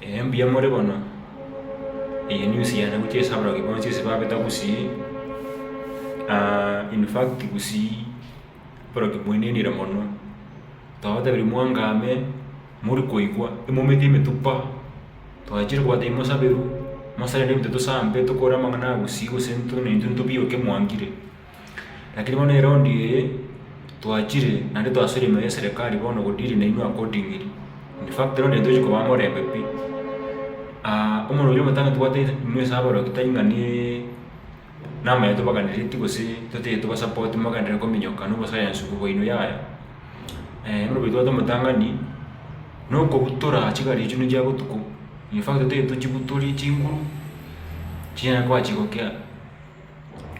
Ee, mbuya more bono. Eye news yane gochia ase abarogi bonsi ase babeta gusii, in fact gusii oborogi bwainenire mono. Twabatebirie mwangame, mori koigwa, imomete emetupa, twachire kobatebi mosaberu, mosare nebi totosambe tokore amang'ana a gusii gose intwe naintwe ntobioke mwangire. Lakini bono eround eye twachire naende twasore ime y'eserekari bono godeal nainwe accordingly. In fact eround eye ntochi kobaa morembe pi. Omonto oria omotange tobwate inwe ase abaroki tari ng'a ne namayo tobaganereti gose toteete toba support mogenderere kominyoka na oboscience obo bwaino yaya. Bono omonto tobwate omotang'ani nokobutora chigari echio nechia botuko in fact toteete tochibutore chinguru chinyare koba chigokea.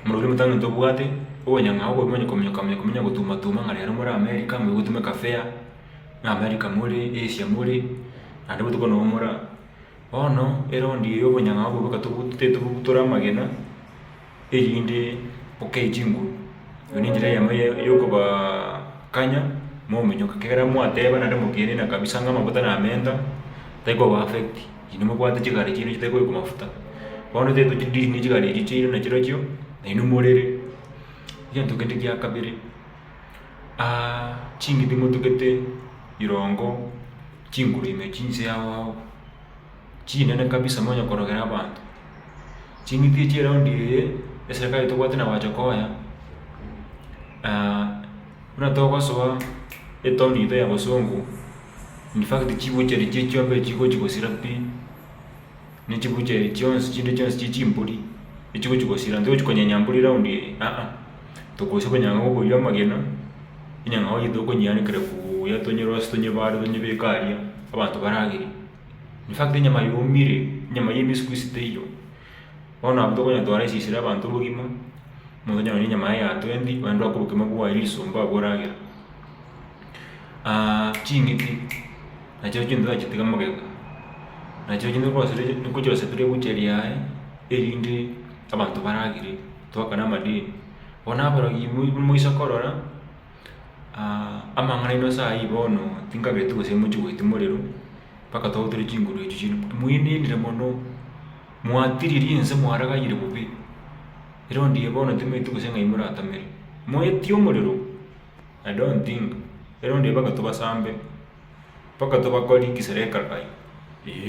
Omorokigwa omotangi ntobwate obonyang'a oko okomonya komonya komonya komonya gotuma tuma ng'a rero more America moe gotumeka fair, na America more, Asia more, naende botuko nobo more aa. Bono eround eye obonyang'a obo boka tobu tetobugutora amagena, erinde bokei chinguru. Eye nenchera eyemo ye yokobaa kanya mominyoka, kegera mwateba naende mokienena kabisa ng'a amafuta namenta, tari koba affect. Inwe mobwate chigare chiaino chitari koyokwa mafuta, bono tari tochidiri ne chigare echio chiaino na chirochio nainwe morere. Egento kende gia kabere, ching'iti motugete rirongo chinguru ime chinse ao ao, chinene kabisa monya korogera abanto. Ching'iti echio eraundi eye, eserekari tobwate nagocha konya buna togosoa etown yaito ya bosongo. In fact chibuchari chie chiombe chigochi gosira pi, ne chibuchari chionsi chinde chionsi chie chimbori echigochi gosira ntochi konyenya mbori round eye aa, tokorusia bonyang'a bwa okoria amagena, enyang'a yao gete okonyeanekera buya tonyerosie tonyebare tonyebeke aria abanto baragerie. In fact enyama yomire, enyama yemesiku ase teiyo. Bono abwo tokonyatwara esisi ria abanto bogima, omonto onye nonye enyama yaye ya twendi ogende oake obokima bwaye riso mba abwo oragera. ching'iti nachio chintwe tachitiga magega, nachio chintwe ngochi osibore ebucheri yaye erinde abanto baragere, toakane amadeni. Bono aborogima moise korora. amang'ana aino ase ayio bono tinkabereti gose moche goeti morero mpaka twautire chinguru echio chire moenenire mono mwatiriri ense mwaragayire bobe ere ondiya bono tomaeti gose ng'ai moratomere moetie omorero i don't think ere onde mpaka tobasambe mpaka tobakore gisere ekarakayo eeh.